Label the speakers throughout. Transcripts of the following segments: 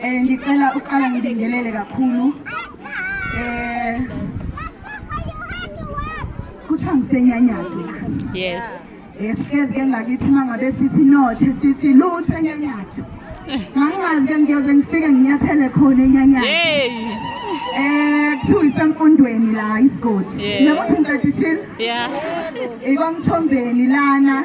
Speaker 1: Eh ngicela uqala ngibingelele kakhulu. Eh kuthiwa ngisenyanyadu.
Speaker 2: Yes. Eh sihlezi ke
Speaker 1: ngakithi mangabe sithi nothe sithi lutho enyanyadu. Ngangazi ke ngiyoze ngifike nginyathele khona enyanyadu. Hey. Eh kuthiwa isemfundweni la isigodi. Nabo ukuthi ngidadishile? Yeah.
Speaker 2: Ikwamthombeni
Speaker 1: lana.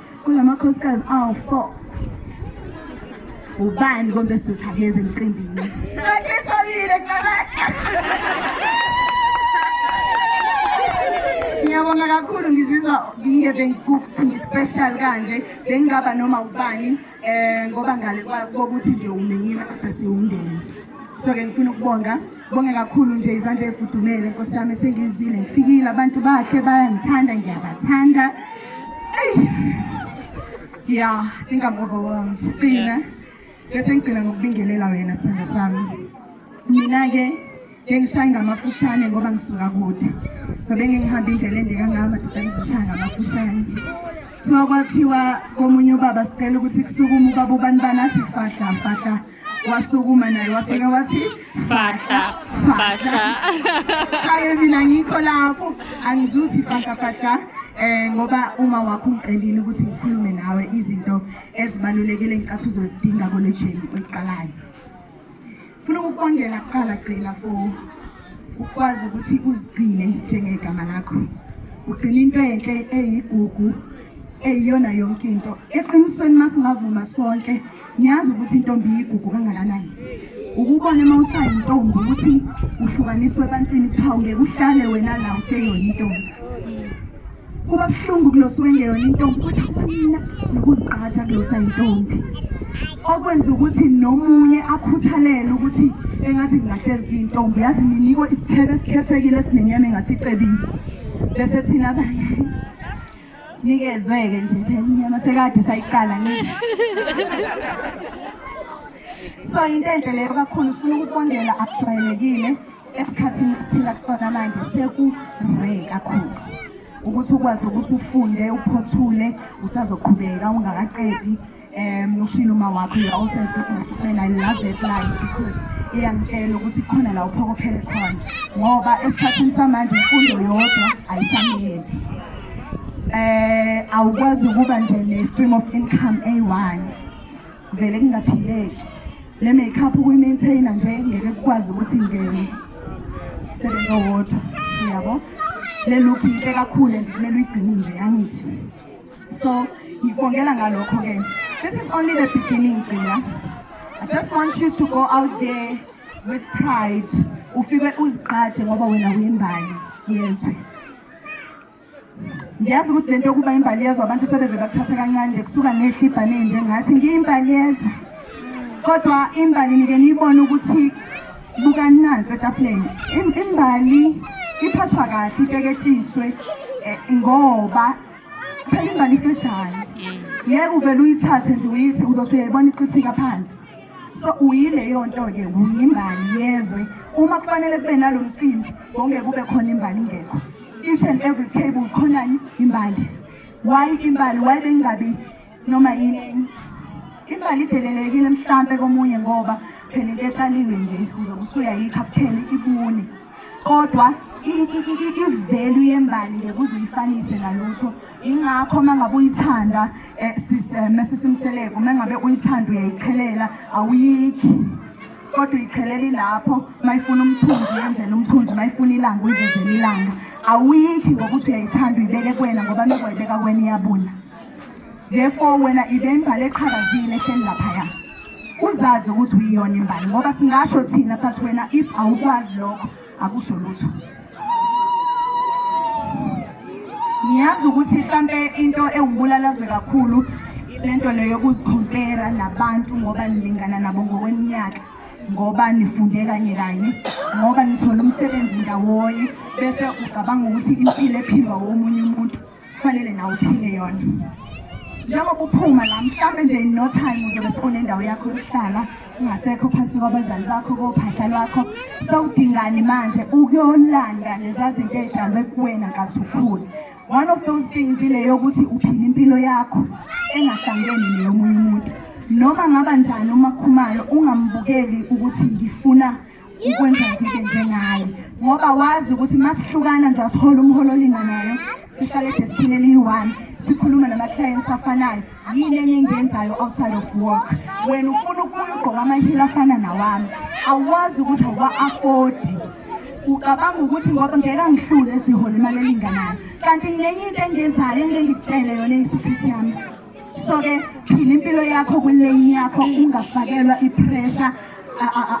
Speaker 1: Kunamakhosikazi awu-four. Ubani kombe sizihakeza emcimbini? Akhethakile cabaka. Ngiyabonga kakhulu ngizizwa ngingebe ngispecial kanje bengingaba noma ubani eh ngoba ngale kokuthi nje umenyile kodwa siwundeni. So ke ngifuna ukubonga Bonge kakhulu nje izandla efudumele Nkosi yami sengizile ngifikile abantu bahle bayangithanda ngiyabathanda. Ey. Yeah, I think I'm overwhelmed. Qina. Bese ngigcina ngokubingelela wena sithando sami. Mina ke ngengishaya ngamafushane ngoba ngisuka kude. So bengihamba indlela ende kangaka madoda ngizoshaya ngamafushane. Siwa kwathiwa komunye ubaba sicela ukuthi kusukume ubaba ubani banathi fahla fahla wasukuma naye wafika wathi fahla
Speaker 2: fahla
Speaker 1: kake mina ngikho lapho angizuthi fahla fahla eh ngoba uma wakho ungicelile ukuthi ngikhulume nawe izinto ezibalulekile engicathi uzozidinga kolejeni oyiqalayo funa ukukongela kuqala gcina for ukwazi ukuthi uzigcine njengegama lakho ugcina into enhle eyigugu eyiyona yonke into eqinisweni uma singavuma sonke niyazi ukuthi intombi iyigugu kangakanani ukubona uma usayintombi ukuthi uhlukaniswe ebantwini kuthiwa ngeke uhlale wena la useyona intombi kuba buhlungu kuloswa engeyona intombi kodwa kubanina nokuzigqaja kulosa intombi okwenza ukuthi nomunye akhuthalele ukuthi engathi ngingahlezi kuyintombi yazi ninikwe isithebe esikhethekile esinenyama engathi icebile bese thina abanye sinikezwe-ke nje phela inyama sekade sayiqala ngithi so into enhle leyo kakhulu sifuna ukubongela akujwayelekile esikhathini esiphila kusona manje sekure kakhulu ukuthi ukwazi ukuthi ufunde uphothule usazoqhubeka ungakaqedi um ushile uma wakho you also man i love that line because iyangitshela ukuthi khona la uphokophele khona ngoba esikhathini samanje imfundo yodwa ayisamele eh awukwazi ukuba nje ne-stream of income a-one vele kungaphileki le makeup ukuyimaintaina nje ngeke kukwazi ukuthi ngene sebenza wodwa yabo le look yinhle kakhulu and kumele uyigcine nje angithi so ngikubongela ngalokho ke this is only the beginning gcina i just want you to go out there with pride ufike uzigqaje ngoba wena uyimbali yezwe ngiyazi ukuthi lento yokuba imbali yezwa abantu sebeve bakuthathe kancane nje kusuka nehla ibhane njengathi ngiyimbali yezwa kodwa imbali nike niyibone ukuthi bukani nansi etafuleni imbali iphathwa kahle iteketiswe eh, ngoba phela imbali ifreshane ngeke uvele uyithathe nje uyithi uzothi uyayibona iqithika phansi so uyileyo nto-ke uyimbali yezwe uma kufanele kube nalo mcimbi wonge kube khona imbali ingekho each and every table khonani imbali why imbali why bengabi noma yini imbali idelelekile mhlampe komunye ngoba phela into etshaliwe nje uzobe usuyayikha kuphela ibune kodwa ivelu yembali ngeke uzuyifanise nalutho ingakho uma ngabe uyithanda um eh, eh, mesisimseleko uma ngabe uyithanda uyayichelela awuyikhi kodwa uyicheleli lapho mayifuna umthunzi yenzela umthunzi mayifuna ilanga uyivezela ilanga awuyikhi ngokuthi uyayithanda uyibeke kwena ngoba nokwayibeka kwena iyabuna therefore wena ibe imbali eqhakazile ehleli laphaya uzazi ukuthi uyiyona imbali ngoba singasho thina but wena if awukwazi lokho akusho lutho ngiyazi ukuthi mhlampe into ewumbulalazwe kakhulu lento leyo yokuzikhompera nabantu ngoba nilingana nabo ngokweminyaka ngoba nifunde kanye kanye ngoba nithola umsebenzi ndawonye bese ucabanga ukuthi impilo ephilwa womunye umuntu kufanele nawe uphile yona njengoba uphuma la mhlawumbe nje in no time uzobe sekunendawo yakho yokuhlala ungasekho phansi kwabazali bakho kophahla lwakho sawudingani manje ukuyolanda leza zinto ey'tshalwe kuwena kathi ukhula one of those things ile yokuthi uphila impilo yakho engahlangene neyomunye umuntu noma ngaba njani umakhumayo ungambukeli ukuthi ngifuna ukwenza ngike njengayo ngoba wazi ukuthi uma sihlukana nje asihola umholo olinganayo sihlale edeskini eliyi-one sikhulume nama-clients afanayo yini enye engiyenzayo outside of work wena ufuna ukubuya ugqoka amahila afana nawami awazi ukuthi awuwa-afodi ucabanga ukuthi ngoba ngeke angihlule sihola imali elinganayo kanti ngenye into engiyenzayo engike ngikutshele yona eyisiphisi yami so ke phila impilo yakho kwilane yakho ungafakelwa ipressure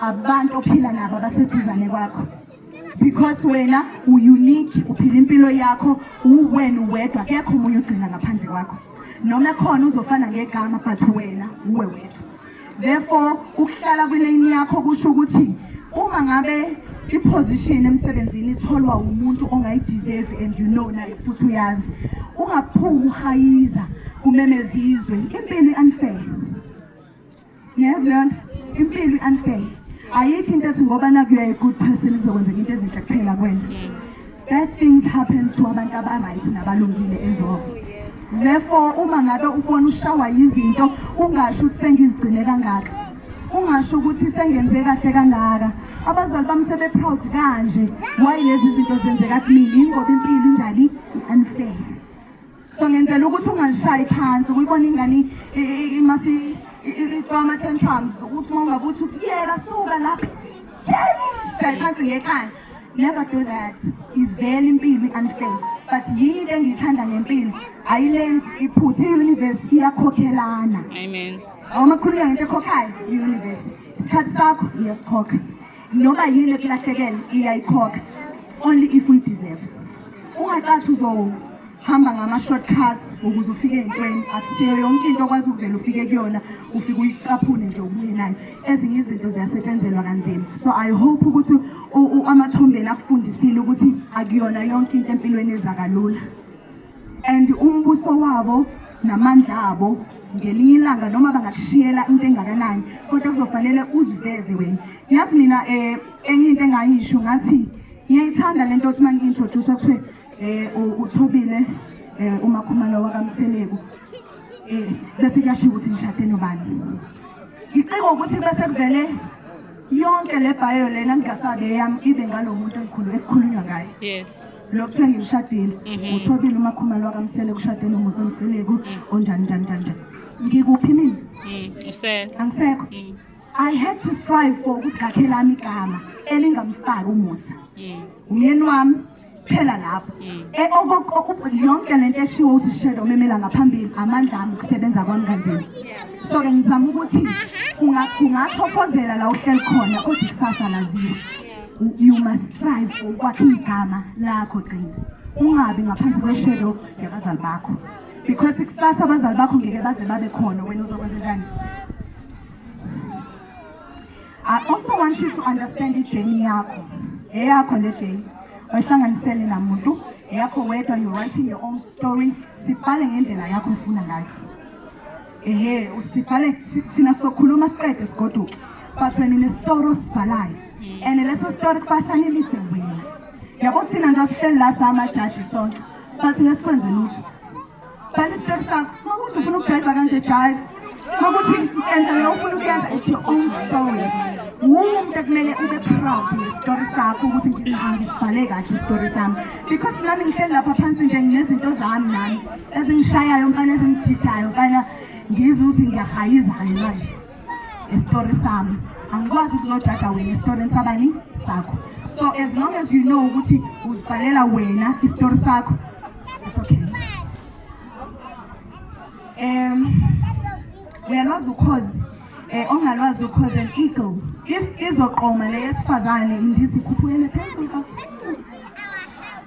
Speaker 1: abantu ophila nabo abaseduzane kwakho because wena u-unique uphila impilo yakho uwena uwedwa kekho omunye ugcina ngaphandle kwakho noma ekhona uzofana ngegama but wena uwe wedwa therefore ukuhlala kwilane yakho kusho ukuthi uma ngabe iposition emsebenzini itholwa umuntu ongayideserve and you know naye futhi uyazi ungaphumi uhayiza kumemeza izwe impilo i-unfair niyazi leyo nto impilo i-unfair ayikho into ethi ngoba nakuyaye good person izokwenzeka into ezinhle kuphela kwena Bad things happen to abantu abaright nabalungile ezolo. Therefore uma ngabe ubona ushawa yizinto ungasho ukuthi sengizigcine kangaka. Ungasho ukuthi sengenze kahle kangaka. Abazali bami sebe proud kanje. Why lezi zinto zenzeka kimi? Ingoba impilo injani? Unfair. so ngenzela ukuthi ungashayi phansi ukuyibona ingane imasi idrama tantrums ukuthi uma ungabe uthi yeka suka lapha shayi phansi ngekhanda never do that ivele impilo i-unfair but yini into engiyithanda ngempilo ayilenzi iphutha i-universe iyakhokhelana amen
Speaker 2: uma khulula ngento
Speaker 1: ekhokhayo i-universe isikhathi sakho iyasikhokha noba yini ekulahlekele iyayikhokha only if we deserve ungacathi uzowu hamba ngama-shortcuts ukuze ufike entweni akusiyo yonke into okwazi ukuvela ufike kuyona ufike uyicaphune nje ubuye nayo ezinye izinto ziyasetshenzelwa kanzima so i hope ukuthi amathombeni akufundisile ukuthi akuyona yonke into empilweni ezakalula and umbuso wabo namandla abo ngelinye ilanga noma bangakushiyela into engakanani kodwa kuzofanele uziveze wena yazi mina um enye into engayisho ngathi ngiyayithanda le nto othi uma ngi-introduce kuthiwe eh uthobile eh umakhumalo wakamseleku eh bese kuyashiya ukuthi ngishade nobani ngicika ukuthi bese kuvele yonke le bio lena ngingasabe yami ibe ngalomuntu engikhulu ekukhulunywa ngaye yes lo kuthiwa
Speaker 2: ngimshadile
Speaker 1: mhm. uthobile umakhumalo wakamsele kushade nomusa mseleku mhm. onjani njani njani njani ngikuphi mina mhm, usele
Speaker 2: angisekho
Speaker 1: i had to strive for ukuthi ngakhe lami igama elingamfaki umusa umyeni wami phela lapho mm. e, yonke lento eshiwo usishelo umemela ngaphambili amandla ami kusebenza kwami kanzima so ke ngizama ukuthi ungathofozela la uhleli khona kodwa ikusasa laziwa you must strive for ukwakha igama lakho gcina ungabi ngaphansi kweshelo yabazali bakho because ikusasa abazali bakho ngeke baze babe khona wena uzokwenza njani I also want you to understand ijourney yakho eyakho le journey wayihlanganisele namuntu eyakho wedwa you're writing your own story sibhale ngendlela yakho ofuna ngayo ehe usibhale thina sokhuluma siqede sigoduke but wena unesitoro osibhalayo and leso sitoro kufasanelise wena yabo thina nje asihleli la samajaji sonke but ngesikwenze lutho But it's their song. Makuthi ufuna ukujayiva kanje jive. Makuthi enza leyo ufuna ukuyenza it's your own story. Wonke kumele ube proud ngestory sakho ukuthi ngihambi sibhale kahle istory sami. Because nami ngihleli lapha phansi nje nginezinto zami nami ezingishayayo mfana ezingidhidayo mfana ngizwe ukuthi ngiyahayiza manje. isitori sami angikwazi ukuzojaja wena esitoreni sabani sakho so as long as you know ukuthi uzibhalela wena isitori sakho it's okay um uyalwazi ukhozi eh ongalwazi ukhozi an eagle if izoqoma le yesifazane indizi ikhuphukele phezulu kakhulu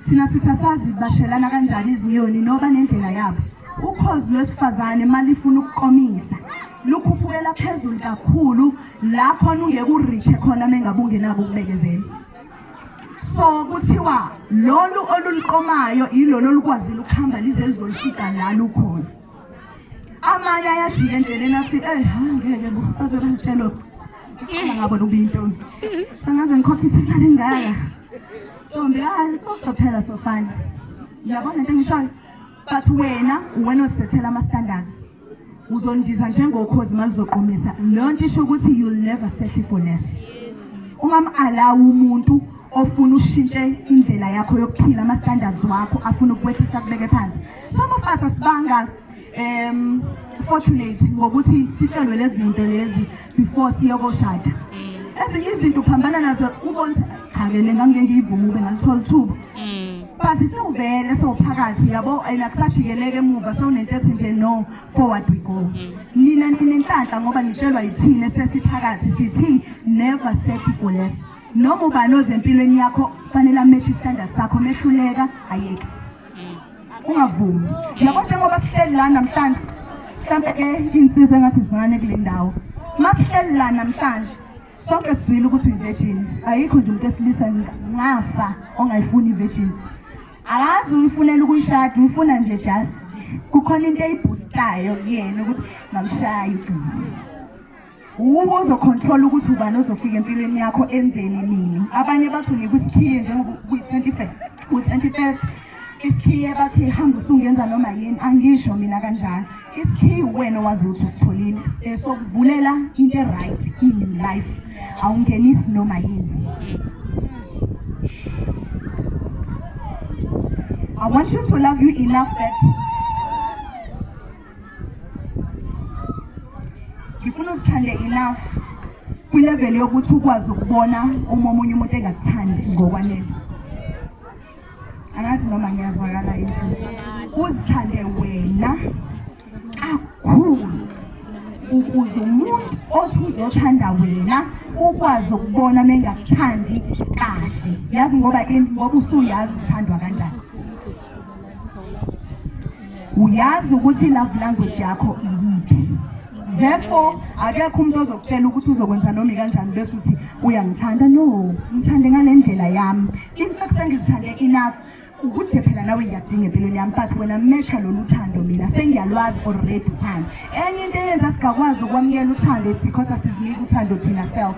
Speaker 1: thina sithasazi bashelana kanjani izinyoni noba nendlela yabo ukhozi lwesifazane malifuna ukuqomisa lukhuphukela phezulu kakhulu la khona ungeke urishe khona mengabe ungenako ukubekezela so kuthiwa lolu oluliqomayo yilolo olukwazile ukuhamba lize lizolifica la lukhona amanye ayajika endleleni athi eyi ha ngeke bo baze bazitshelo angabona ubinto sangaze ngikhokhise imali engaka ntombi hayi sozophela sofana uyabona into engishoyo but wena uwena osethela ama standards uzondiza njengokhozi malizoqomisa leyo nto isho ukuthi you'll never settle for less ungamalawa umuntu ofuna ushintshe indlela yakho yokuphila ama standards wakho afuna ukwehlisa kubeke phansi some of us asibanga um fortunate ngokuthi sitshelwe lezinto lezi before siyokoshada mm. ezinye izinto uphambana nazo ubona cha lena ngangike ngiyivuma ube ngalithola ithuba mm. but siwuvele sowuphakathi yabo and akusajikeleke emuva sewunento ethi nje no forward we go mm. nina ninenhlanhla ngoba nitshelwa yithini esesiphakathi sithi never settle for less noma ubani ozempilweni yakho fanele amehle istandard sakho mehluleka ayeke ungavumi yabo njengoba sihleli la namhlanje mhlawumbe ke iy'nsizwa engathi zincane kule ndawo uma sihleli la namhlanje sonke sizwile ukuthi uyi-virgin ayikho nje umuntu esilisa ngafa ongayifuni i-virgin akazi uyifunela ukuyishada uyifuna nje just kukhona into eyibhustayo kuyena ukuthi ngamshaya igcina Uma uzocontrola ukuthi ubani ozofika empilweni yakho enzeni nini. Abanye bathi unika isikhiye njengoba kuyi-25 u-21st isikhiye bathi hamba usungenza noma yini angisho mina kanjalo isikhiye uwena owazi ukuthi usitholile eh, sokuvulela into e-right in life awungenisi noma yini I want you to love you enough that ngifuna uzithande enough kwilevel yokuthi ukwazi ukubona uma omunye umuntu engakuthandi ngokwanele angazi noma ngiyazwakala yini uzithande wena kakhulu ukuze umuntu othi uzothanda wena ukwazi ukubona mengakuthandi kahle yazi ngoba ngoba usuyazi uthandwa kanjani uyazi ukuthi i-love language yakho iyiphi therefore akekho umuntu ozokutshela ukuthi uzokwenza noma ikanjani bese uthi uyangithanda no ngithande ngale ndlela yami in fact sengizithande enough ukuthi phela nawe ngiyadinga empilweni yami but wena mesha lolu thando mina sengiyalwazi already uthando enye into eyenza singakwazi ukwamukela uthando is because asiziniki uthando thina self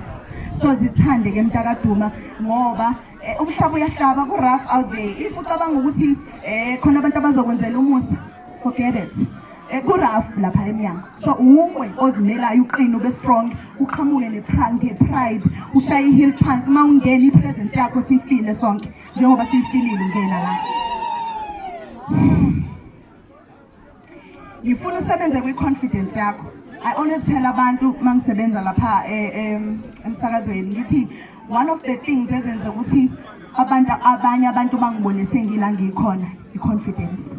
Speaker 1: so zithande ke mntakaduma ngoba Eh, umhlaba uyahlaba ku-rough out there if ucabanga ukuthi um khona abantu abazokwenzela umusa forget it eh, ku-rough lapha emnyango so uwe ozimelayo uqine ube strong uqhamuke nepride pride ushaye i-hill phansi uma ungena i-presence yakho siyifile sonke njengoba siyifilile ungena la ngifuna usebenze kwi-confidence yakho i always tell abantu uma ngisebenza lapha eh, emsakazweni ngithi one of the things ezenza ukuthi abantu abanye abantu bangibone sengila ngikhona i-confidence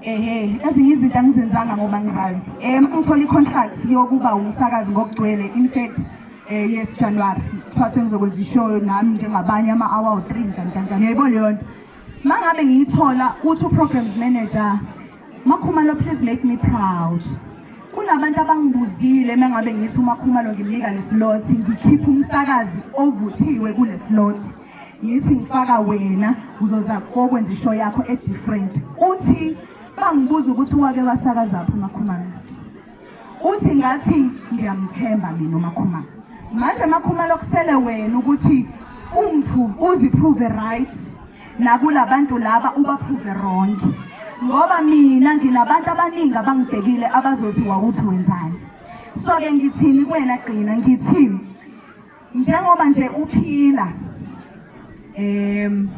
Speaker 1: ehe ezinye izinto angizenzanga ngoba ngizazi um ngithola i-contract yokuba umsakazi ngokugcwele in fact um yes january kuthiwa sengizokwenza ishoyo nami njengabanye ama-hour three njanjanjani yayibona leyo nto Mangabe ngiyithola uthi uprograms manager Makhumalo please make me proud. Kunabantu abangibuzile mangabe ngithi uMakhumalo ngimnika leslot ngikhipha umsakazi ovuthiwe kuleslot. Yithi ngifaka wena uzoza kokwenza isho yakho e different. Uthi bangibuza ukuthi wake wasakaza phi uMakhumalo. uthi ngathi ngiyamthemba mina umakhumalo manje makhumalo kusele wena ukuthi uziprove right nakulabantu laba ubaprove wrong ngoba mina nginabantu abaningi abangibhekile abazoziwa ukuthi wenzani so-ke ngithini kuwena gcina ngithini njengoba nje uphila um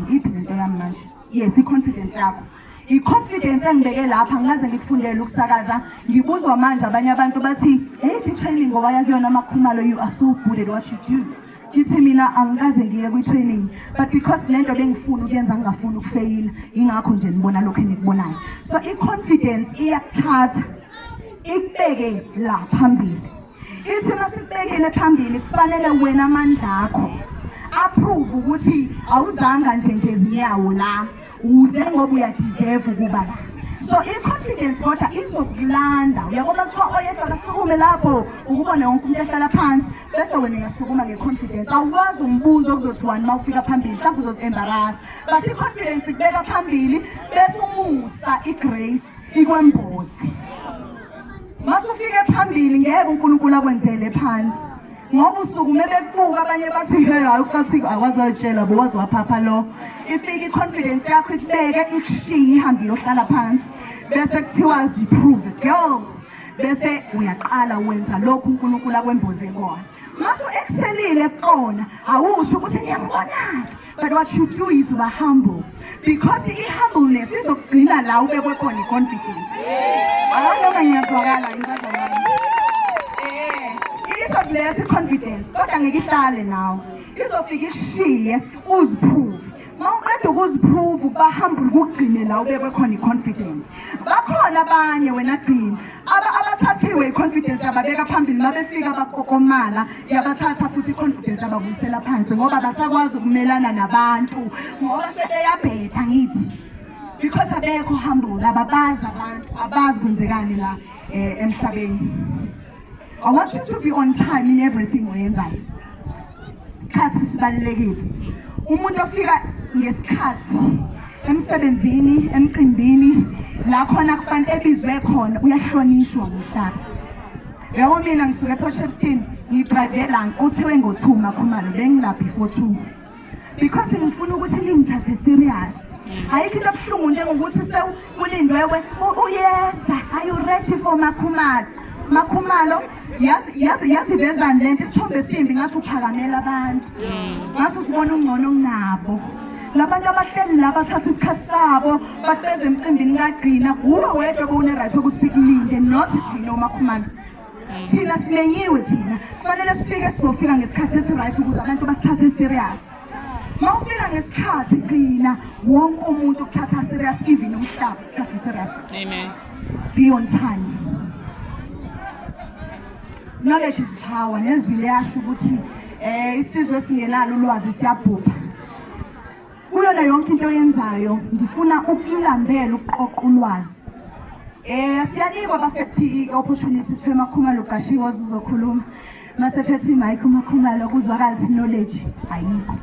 Speaker 1: iphi lento yami manje yes i-confidence yakho i-confidence engibeke lapha ngikaze ngikufundele ukusakaza ngibuzwa manje abanye abantu bathi eyiphi i-training ngowaya kuyona amakhumalo you are so good at what you do ngithi mina angikaze ngiye kwi-training but because le nto bengifuna ukuyenza ngingafuni ukufeyila yingakho nje nibona lokhu enikubonayo so i-confidence iyakuthatha ikubeke la phambili Ithina sikubekile phambili kufanele wena amandla akho approve ukuthi awuzanga nje ngezinyawo la uze ngoba uyadeserve ukuba la so i-confidence kodwa izokulanda uyabona kuthiwa oyedwa kasukume lapho ukubona wonke umuntu ehlala phansi bese wena uyasukuma nge-confidence awukwazi umbuzo okuzothi wani uma ufika phambili mhlawumbe uzozi-embarasa but i-confidence ikubeka phambili bese umusa i-grace ikwembozi masufike phambili ngeke uNkulunkulu akwenzele phansi ngoba usuku mebekubuka abanye bathi hey hayi ucathi akwazi wayitshela bo wazi waphapha lo ifike i-confidence yakho ikubeke ikushiye ihambe iyohlala phansi bese kuthiwa ziprove girl bese uyaqala wenza lokhu uNkulunkulu akwemboze kona mase u-excelile kukona awusho ukuthi ngiyambonake But what you do is uba humble because i-humbleness izokugcina la ubekwe khona i-confidence. Awanoma ngiyazwakala ngibazalwane. Eh, izokulesa i-confidence kodwa ngeke ihlale nawe. Izofika ikushiye uziprove. Mawuqeda ukuziprove uba humble kugcine la ubekwe khona i-confidence. Bakhona abanye wena gcina aba abathathiwe i-confidence yababeka phambili mabefika bakokomala yabathatha futhi i-confidence yababuyisela phansi ngoba basakwazi ukumelana nabantu ngoba sebeyabheda ngithi because abekho humble ababazi abantu abazi kwenzekani la eh, emhlabeni i want you to be on time in everything oyenzayo isikhathi sibalulekile umuntu ofika ngesikhathi emsebenzini emcimbini la khona kufanele ebizwe khona uyahlonishwa umhlaba yabo mina ngisuke eposhefstin ngidrive la kuthiwe ngo-two makhumalo bengila before two because ngifuna ukuthi ningithathe serious ayikho into ebuhlungu njengokuthi sewulindwewe uyeza are you ready for makhumalo makhumalo yasivezani le nto isithombe esimbi ngathi uphakamela abantu ngathi usibona ungcono kunabo labantu abahleli la bathatha isikhathi sabo bathi beze emcimbini kagcina wuwe wedwa bowune-right okusikulinde not thina omakhumana thina simenyiwe thina kufanele sifike sizofika ngesikhathi esi-right ukuze abantu basithathe i-serious ma ufika ngesikhathi gcina wonke umuntu ukuthatha serious even umhlaba ukuthatha serious amen Beyonthani. Knowledge is power nezwi liyasho ukuthi eh isizwe singenalo ulwazi siyabhubha. Kuyona yonke into oyenzayo ngifuna ukulambela ukuqoqa ulwazi. Eh siyanikwa abafethi i-opportunity kuthiwa emakhumalo uqashiwe ozizokhuluma. masekhethi mike umakhumalo kuzwakala ukuthi knowledge ayikho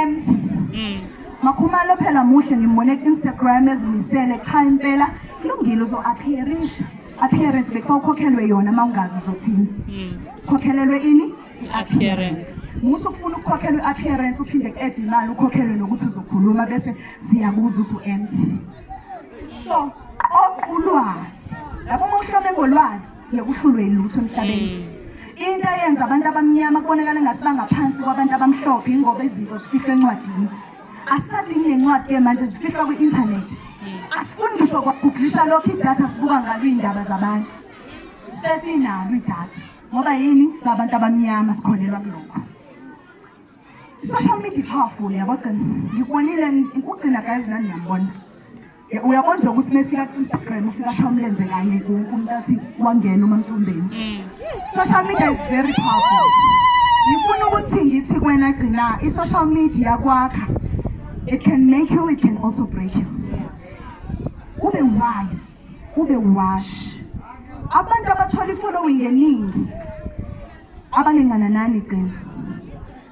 Speaker 1: empty mm. makhumalo phela muhle ngimbone ku-instagram ezimisele cha impela kulungile uzo-appearisha appearance bekufa ukhokhelwe yona uma ungazi uzothini mm. khokhelelwe ini i-appearance musa ufuna ukukhokhelwa i-appearance uphinde ku-ede imali ukhokhelwe nokuthi uzokhuluma bese siyakuza ukuthi u-empty so oqulwazi labo uma uhlome ngolwazi yakuhlulwe ilutho emhlabeni mm. into eyenza abantu abamnyama kubonakala ngathi bangaphansi kwabantu abamhlophe ingoba izinto zifihlwe encwadini asadingi nencwadi ke manje zifihlwa kwi-inthanethi mm. asifuni ngisho kwaguglisha lokho idatha sibuka ngalo iy'ndaba zabantu sesinalo idatha ngoba yini sabantu abamnyama sikholelwa kulokho social media powerful yabogcina ngikubonile ugcina guys nani niyambona Eh, uyabona nje ukuthi mefika ku-instagram ufika asho umlenze kanye wonke umuntu athi wangena umantombeni mm. social media is very powerful ngifuna ukuthi ngithi kwena gcina i-social media kwakha it can make you it can also break you ube wise ube wash abantu abathola i-following eningi abalingana nani gcina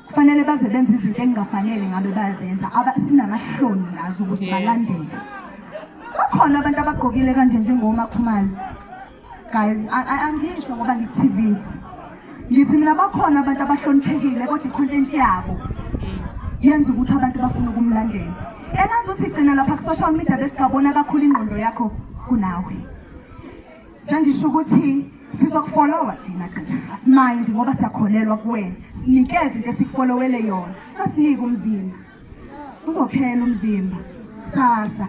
Speaker 1: kufanele baze benze izinto engingafanele ngabe bayazenza sinamahloni ngazo ukuze balandele bakhona abantu abagqokile kanje njengomakhumalo guys angisho ngoba ngi-tv ngithi mina bakhona abantu abahloniphekile kodwa i-content yabo yenza ukuthi abantu bafune ukumlandela enazothi gcina lapha ku-social media besingabona kakhulu ingqondo yakho kunawe sengisho ukuthi sizokufolowa thina gcina asimindi ngoba siyakholelwa kuwena sinikeze into esikufolowele yona asinike umzimba uzophela umzimba sasa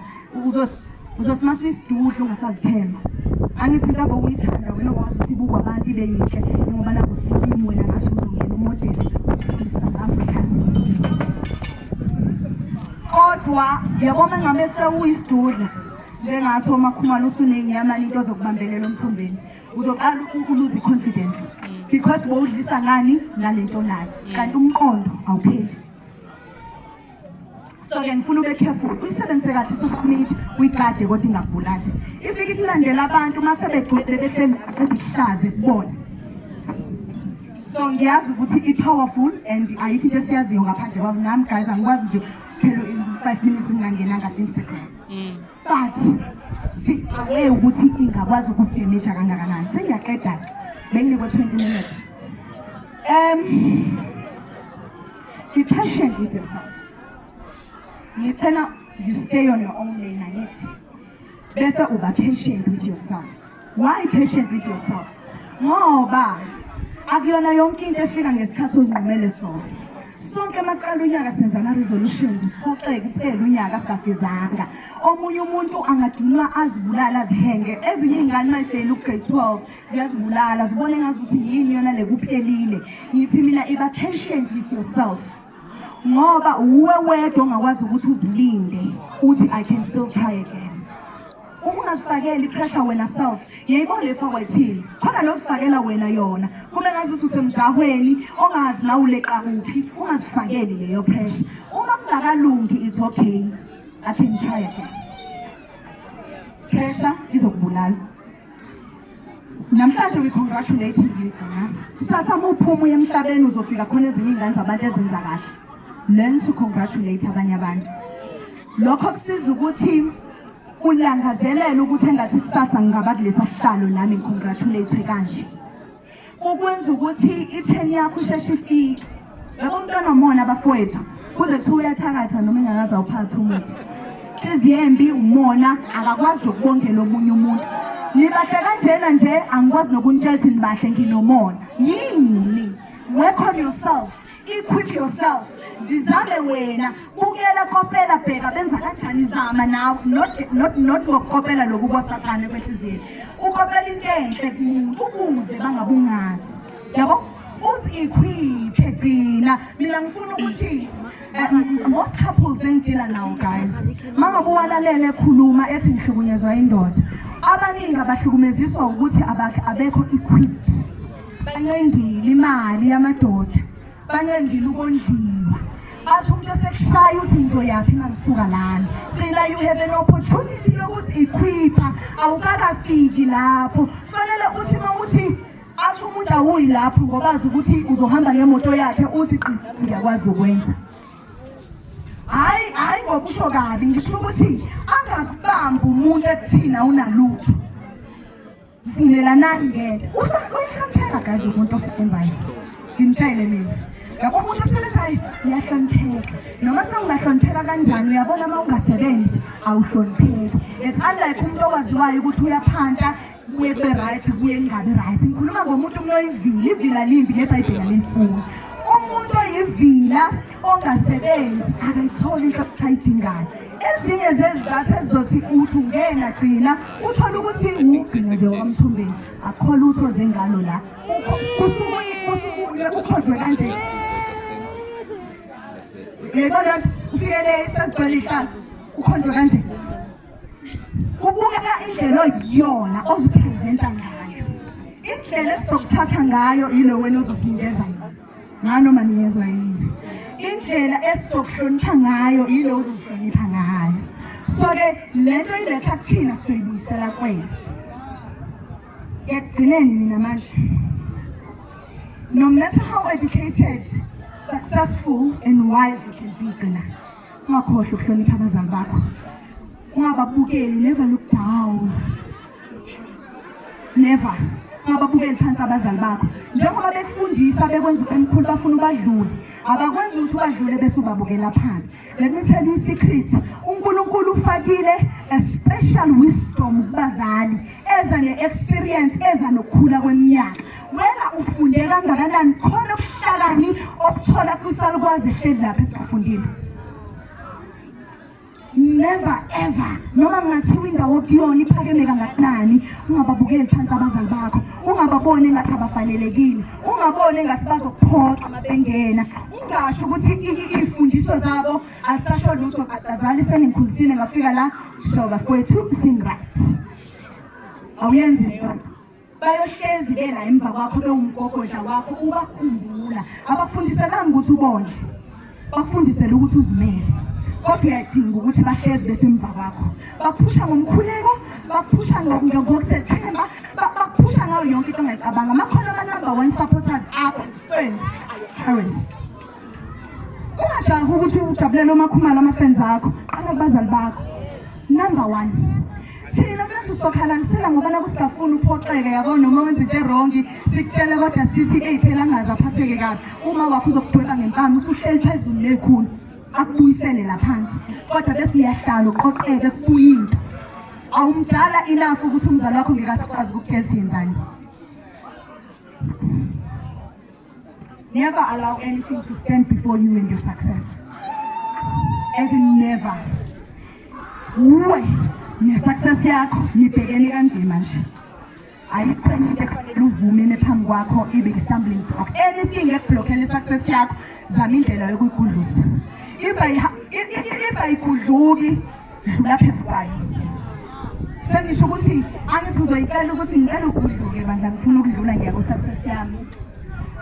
Speaker 1: uzosimasa isidudlu ungasazithemba angithi into abokuyithanda wena okwazi ukuthi ibukwa abantu ibe yinhle njengoba nakusilimi wena ngathi uzongena umodeli i-south africa kodwa yabona ngabe sewuyisidudla njengathi uma khumalo usunenyama into zokubambelela umthombeni uzoqala ukuluza i-confidence because bowudlisa ngani nalento nayo kanti umqondo awupheli so-ke ngifuna ube careful usisebenzise kahle i-social media uyigade kodwa ingakubulali ifike ikulandela abantu uma sebegcwele behleli naqeda ihlaze kubona so ngiyazi ukuthi i-powerful and ayikho into esiyaziyo ngaphandle kwabo nami guys angikwazi nje phela five minutes ngingangenanga ku-instagram mm. but siqale ukuthi ingakwazi ukusidemeja kangakanani sengiyaqeda benginikwe 20 minutes um be patient with yourself ngicela you stay on your own lane angithi bese uba patient with yourself Why patient with yourself? Ngoba akuyona yonke into efika ngesikhathi ozinqumele sona. Sonke amaqala unyaka senza ama resolutions siphoxeke kuphela unyaka singafizanga. Omunye umuntu angadunwa azibulala azihenge. Ezinye ingane mayifela ugrade 12 ziyazibulala zibone ngazuthi yini yona lekuphelile. Ngithi mina iba patient with yourself. Ngoba uwe wedwa ongakwazi ukuthi uzilinde uthi I can still try again. ungazifakeli pressure wena self yebo lefa wayithini khona lozifakela wena yona kube ngathi ususemjahweni ongazi la uleqa kuphi ungazifakeli leyo pressure uma kungakalungi it's okay i can try again pressure izokubulala namhlanje we congratulate you gcina sasa muphuma uye emhlabeni uzofika khona ezinye iy'ngane zabantu ezenza kahle learn to congratulate abanye abantu lokho kusiza ukuthi ulangazelela ukuthi engathi kusasa ngingaba kulesa sihlalo nami ngicongratulate kanje kukwenza ukuthi itheni yakho usheshe ifike yabo umntwana omona abafowethu kuze kuthiwa uyathakatha noma engakaze awuphathe umuthi inhliziyo embi umona akakwazi nokubongela omunye umuntu nibahle kanjena nje angikwazi nokunitshela ukuthi nibahle nginomona yini work on yourself equip yourself zizame wena bukela kopela bheka benza kanjani zama nawe not not not ngokukopela lokhu kosathane kwenhliziyeni ukopela into enhle kumuntu ukuze bangabungazi yabo uzikhwiphe gcina mina ngifuna ukuthi eh, most couples engidila nawo guys mangabe uwalalele ekhuluma ethi ngihlukunyezwa indoda abaningi abahlukumeziswa ukuthi abakhe abekho equipped bancendile imali yamadoda bancendile ukondliwa bathi umuntu esekushaya uthi ngizoyaphi uma ngisuka lana gcina you have an opportunity yokuzi-equipha awukakafiki lapho kufanele uthi uma uthi athi umuntu awuyi lapho ngobazi ukuthi uzohamba ngemoto yakhe uthi qi ngiyakwazi ukwenza hhayi hhayi ngokusho kabi ngisho ukuthi angakubambi umuntu ekuthina unalutho sivumelanani ngento uhlonipheka gazi umuntu osebenzayo ngimtshele mina yabo umuntu osebenzayo uyahlonipheka noma sewungahlonipheka kanjani uyabona uma ungasebenzi awuhlonipheki it's unlike umuntu owaziwayo ukuthi uyaphanta kuye kube right kuye kungabi right ngikhuluma ngomuntu umuntu oyivile ivila limbi nebhayibheli alimfuni umuntu oyivila ongasebenzi akayitholi inhlobo ayidingayo ezinye zezizathu ezizothi uthi ungena gcina uthole ukuthi ngugcine nje wakamthumbeni akukho lutho zengalo la kusukuye ukhodwe kanje yebo le nto ufike le sezigcwele ihlala ukhodwe kanje kubukeka indlela oyiyona oziphezenta ngayo indlela esizokuthatha ngayo yilo wena ozosinikeza yona nganoma niyezwa yini indlela esizokuhlonipha ngayo yile uzozihlonipha ngayo so-ke le nto iletha kuthina sizoyibuyisela kwena ekugcineni mina manje no matter how educated successful and wise you can be gcina ungakhohlwa ukuhlonipha abazali bakho ungababukeli never look down never ababukeli phansi abazali bakho njengoba bekufundisa bekwenza ubemkhulu bafuna ubadlule abakwenzi ukuthi ubadlule bese ubabukela phansi let me tell you secret unkulunkulu ufakile a special wisdom kubazali eza ne-experience eza nokukhula kweminyaka wena ufunde kangakanani khona ubuhlakani obuthola kwisalukwazi ehleli lapha esingafundile never ever noma kungathiwa indawo okuyona iphakeme kangakanani ungababukeli phansi abazali bakho ungababoni engathi abafanelekile ungaboni engathi bazokuphoxa uma bengena ungasho ukuthi iy'fundiso zabo azisasho lutho badazali sengikhuzisile ngafika la shoba kwethu sing right awuyenzi leyo bayohlezi ke la emva kwakho bewumgogodla wakho ubakhumbula abakufundiselanga ukuthi ubone bakufundisele ukuthi uzimele kodwa uyadinga ukuthi bahlezi besemva kwakho baphusha ngomkhuleko baphusha ngokusethemba baphusha ngayo yonke into ongayicabanga amakhona ama-number one supporters akho friends are your parents Ungajahi ukuthi ujabulele umakhumalo ama-fans akho qala kubazali bakho number one thina bese sokhalanisela ngoba la kusigafuni uphoxeke yabo noma wenza into erongi sikutshele kodwa sithi eyi phela angazi aphatheke kabi uma wakho uzokudweba ngempama usuhleli phezulu nekhulu akubuyisele la phansi kodwa bese uyahlala uqoqeke kubuye into awumdala enough ukuthi umzali wakho ngekasakwazi ukukutshela ukuthi yenzani Never allow anything to stand before you and your success. As in never. Uwe, ne success yakho nibhekene kanje manje. ayikho enye into ekufanele uvume nephambi kwakho ibe i-stumbling block anything ekublokhela i-success yakho zama indlela yokuyigudlusa if ayigudluki dlula phezu kwayo sengisho ukuthi angithi uzoyicela ukuthi ngicela uguduke bandla ngifuna ukudlula ngiya ku-success yami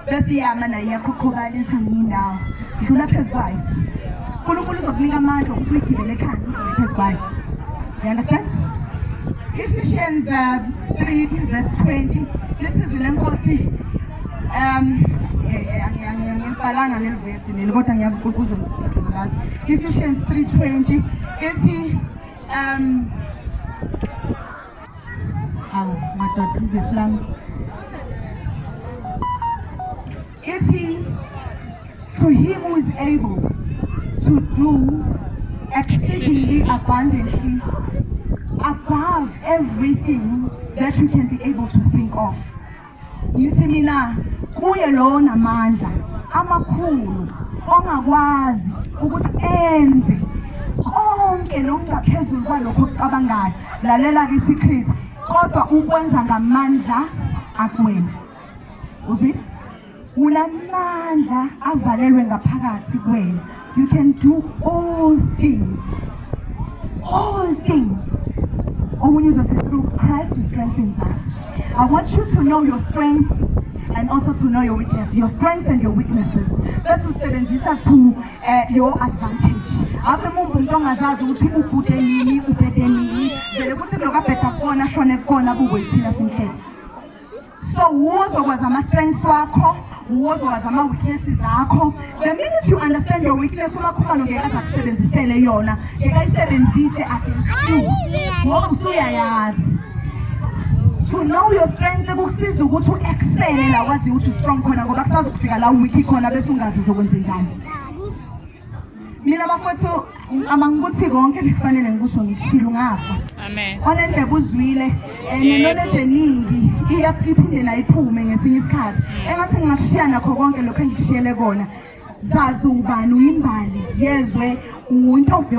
Speaker 1: bese iyama nayo iyakhokhobala ithi angiyindawo dlula phezu kwayo unkulunkulu uzokunika amandla ukuthi uyigibele ekhanda udlule phezu kwayo you understand Ephesians uh, 3 verse 20 lisizwi lenkosi um eh, eh, angibhalanga leli Sinele kodwa ngiyazi uNkulunkulu uzomsiza. Ephesians 3:20 ethi um awu madoda ivisi lami ethi to him who is able to do exceedingly abundantly above everything that you can be able to think of. ngithi mina kuye lowo namandla amakhulu ongakwazi ukuthi enze konke nokungaphezulu kwalokho okucabangayo lalela-ke i-secret kodwa ukwenza ngamandla akuwena uzwile unamandla azalelwe ngaphakathi kwena you can do all things all things omunye uzothi through christ who strengthens us i want you to know your strength and also to know your weakness your strengths and your weaknesses bese usebenzisa to uh, your advantage ave mumbe umuntu ongazazi ukuthi ubhude nini ubhede nini vele kuthi lokabheda kukona ashone kukona bukwethina sinhlele So wuzokwazi ama-strengths wakho wuzokwazi ama-weaknesses akho the minute you understand your weakness umakhumalo ngeke aze akusebenzisele yona ngeke ayisebenzise against you ngoba usuyayazi to know your strength kukusiza ukuthi u-excele la waziyo ukuthi u-strong khona ngoba kusazokufika la u-weak khona bese ungazi uzokwenze njani mina bafowethu ngicabanga ukuthi konke bekufanele ngikusho ngishilo ngafa onendlebe
Speaker 2: uzwile
Speaker 1: um nenoleje eningi iphinde nayo iphume ngesinye isikhathi engathi ngingashiya nakho konke lokhu engishiyele kona zazi ubani uyimbali yezwe untombi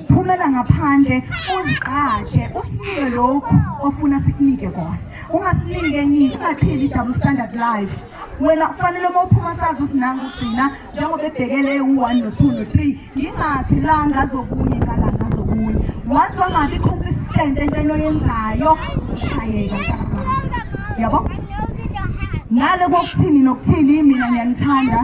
Speaker 1: phumela ngaphandle uzigqaje usinike lokhu ofuna sikunike kona ungasinike enye ungaphili i-double standard life wena kufanele uma uphuma sazi usinanga ugcina njengoba ebhekele u-one no-two no-three ngingathi la ngazokunye ngala ngazokunye wathi wangabi khonsa isitende entweni oyenzayo shayeka yabo ngale kokuthini nokuthini mina ngiyanithanda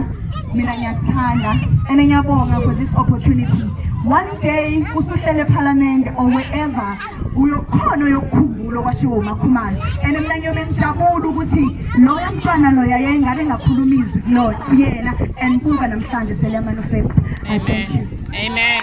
Speaker 1: mina ngiyakuthanda and ngiyabonga for this opportunity one day usuhlele ephalamende or wherever uyokhona uyokukhumbula okwashiwo umakhumalo and mina ngiyobe ngijabula ukuthi loya mntwana loya yayingabe ngakhuluma izwi kulona kuyena
Speaker 2: and
Speaker 1: buka namhlanje selemanifest i
Speaker 2: thank
Speaker 1: you amen